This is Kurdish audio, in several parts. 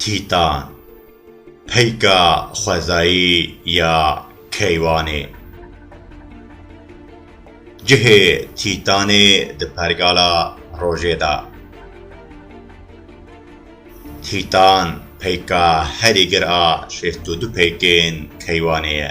Tîtan, peyka xwezayî ya keywanê. Cihê Tîtanê di pergala rojê de. Tîtan peyka herî gir a şêst û du peykên keywanê ye.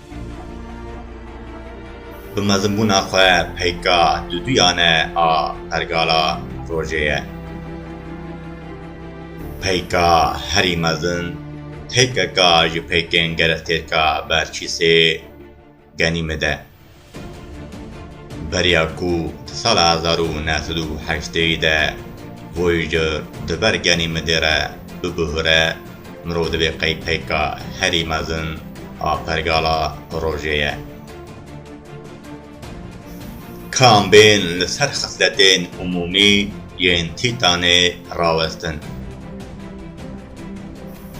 Bi mezinbûna xwe peyka duduyane a pergala rojê ye. Peyka herî mezin têpeka ji peykên gerestêrka Berçîsê Genîmid e. Beriya ku di sala hezar û neh sed û heştê de Voyager di ber Genîmidê re bibihûre, Mirov divê qey peyka herî mezin a pergala rojê ye. Kambên li ser xisletên umûmî yên tîtanê rawestin.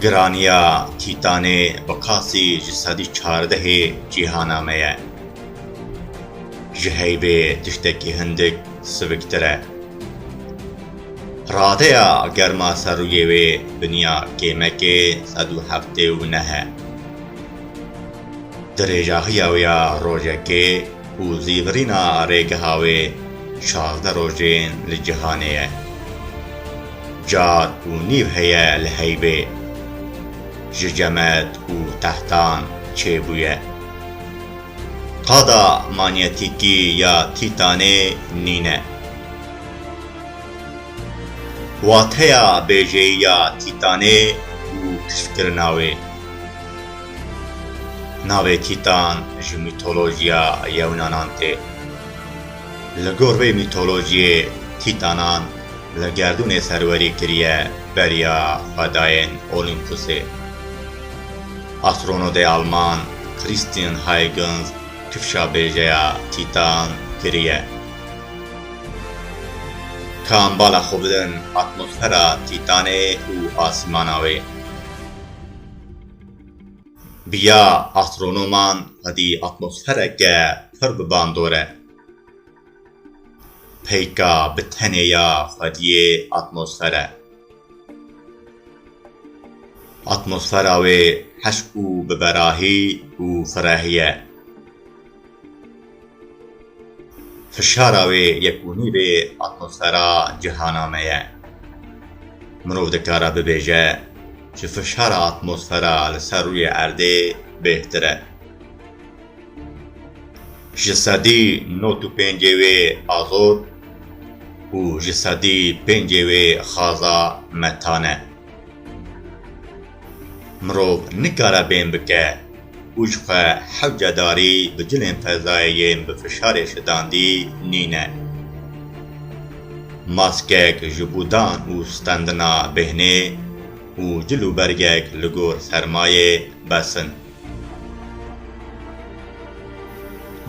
Giraniya tîtanê bi qasî ji sedî çardehê cîhana me ye. Ji heybê tiştekî hindik siviktir e. Radeya germa ser rûyê wê biniya kêmekê sed û heftê û neh e. Dirêjahiya wê ya rojekê û zîvirîna rêgeha wê şazdeh rojên li cîhanê ye. Car û nîv heye li heybê. Ji cemed û tehtan çêbûye. Qada manyetîkî ya Tîtanê nîne. Wateya bêjeyiya Tîtanê û kiştkirina wê. Navê Tîtan ji mîtolojiya Yewnanan tê. Li gor vê mîtolojiyê Tîtanan li gerdûnê serwerî kiriye beriya xwedayên Olîmpusê. Astronodê Alman Christian Huygens kifşa bêjeya Tîtan kiriye. Kan bala xwe bidin atmosfera Tîtanê û asîmana wê. Bi ya astronoman xwedî atmosfereke pir bi ban dore. Peyka bi tenê ya xwediyê atmosfer e. Atmosfera wê hişk û biberahî û firehî ye. Fişara wê yekbûnî vê atmosfera cihana me ye. Mirov dikare bibêje ji fişara atmosfera li ser rûyê erdê bêhtir e. Ji sedî not û pêncê wê azot û ji sedî pêncê wê xaza metan e. Mirov nikare bêm bike û ji xwe hewce darî bi cilên fezayê yên bi fişarê şidandî nîne. Maskek ji bo dan û stendina bêhnê û cil û bergek li gor sermayê bes in.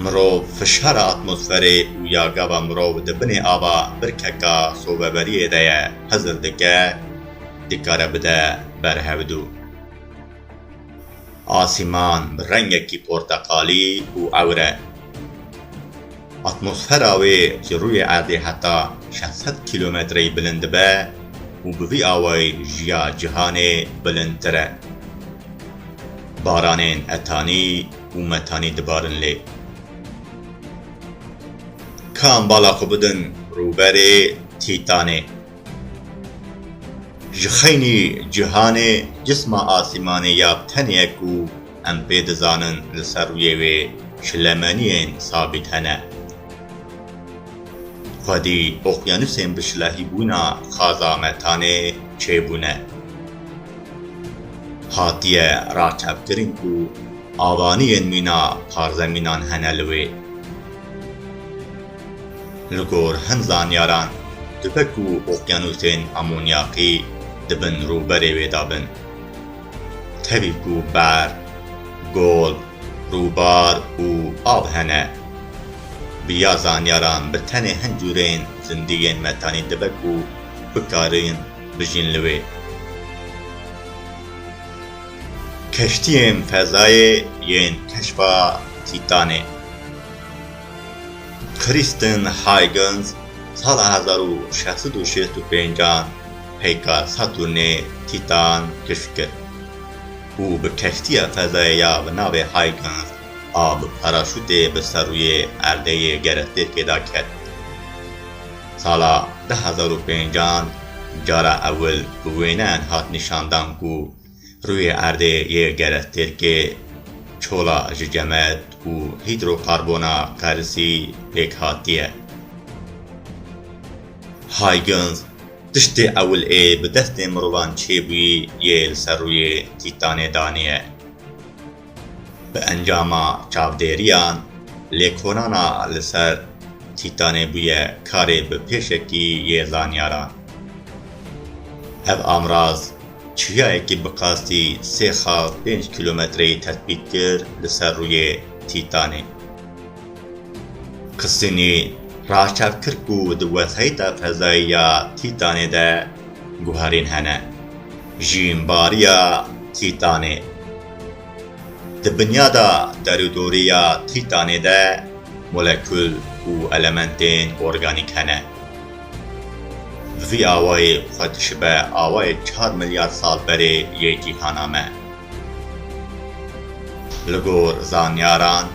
Mirov, fişara atmosferê û ya gava mirov di binê ava birkeka sobeberiyê de ye, hizir dike, dikare bide ber hevdu. Asîman bi rengekî porteqalî û ewre. Atmosfera wê ji rûyê erdê heta şeş sed kîlometreyî bilind dibe û bi vî awayî ji ya cîhanê bilindtir e. Baranên etanî û metanî dibarin lê. Kan bala xwe bidin rûberê Tîtanê. Ji xeynî cîhanê cisma asîmanê ya bi tenê ye ku em pê dizanin li ser rûyê wê şilemeniyên sabît hene. Xwedî oqyanûsên bi şilehîbûna xaza metanê çêbûne. Hatiye raçavkirin ku avaniyên mîna parzemînan hene li wê. Li gor hin zanyaran, dibe ku oqyanûsên amonyaqî di bin rûberê wê de bin. Tevî ku berf, gol, rûbar û av hene. Bi ya zanyaran bi tenê hin cûrên zindiyên metanî dibe ku bikarîn bijîn li wê. Keştiyên fezayê yên keşfa Tîtanê. Kristen Huygens sala hezar û şeş sed û şêst û pêncan peyka Saturnê, Tîtan, kişf kir û bi keştiya fezayê ya bi navê Huygens a bi paraşûtê bi ser rûyê erdê yê gerestêrkê de ket. Sala di hezar û pêncan cara ewil bi wêneyan hat nîşandan ku Rûyê erdê yê gele Tirkê çola ji cemed û hîdrokarbona qerisî pêk hatiye. Huygens, Tiştê ewil ê bi destên mirovan çêbûyî yê li ser rûyê Tîtanê daniye. Bi encama çavdêriyan, lêkolana li ser Tîtanê bûye karê bi pêşekî yê zanyaran. Ev amraz, Çiyayekî bi qasdî sê xal pênc kîlometreyî tetbît kir li ser rûyê Tîtanê. Qisînî raçav kir ku di wesayîta fezayî ya Tîtanê de guherîn hene. Jînbariya Tîtanê Di binyada derûdorî ya Tîtanê de molekul û elementên organîk hene. Vî awayê xwe dişibe awayê çar milyar sal berê yê cîhana me. Li gor zanyaran,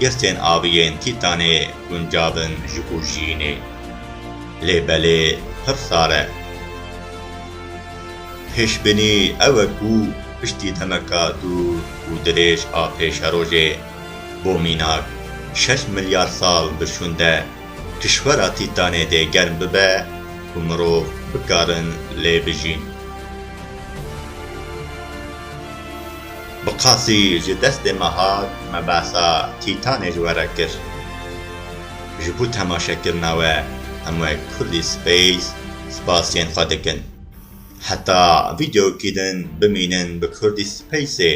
girtên avî yên Tîtanê guncav in ji bo jiyînê. Lê belê pir sar e. Pêşbînî ew e ku piştî demeka dûr û dirêj a pêşerojê bo mînak şeş milyar sal bi şûnde, Kişwera Tîtanê dê germ bibe ku mirov bikarin lê bijîn. Bi qasî ji destê me hat, me behsa Tîtanê ji we re kir. Ji bo temaşekirina we hemû Kurdî Space spasiyên xwe dikin. Heta vîdeoyekî din bimînin bi Kurdî Spaceê.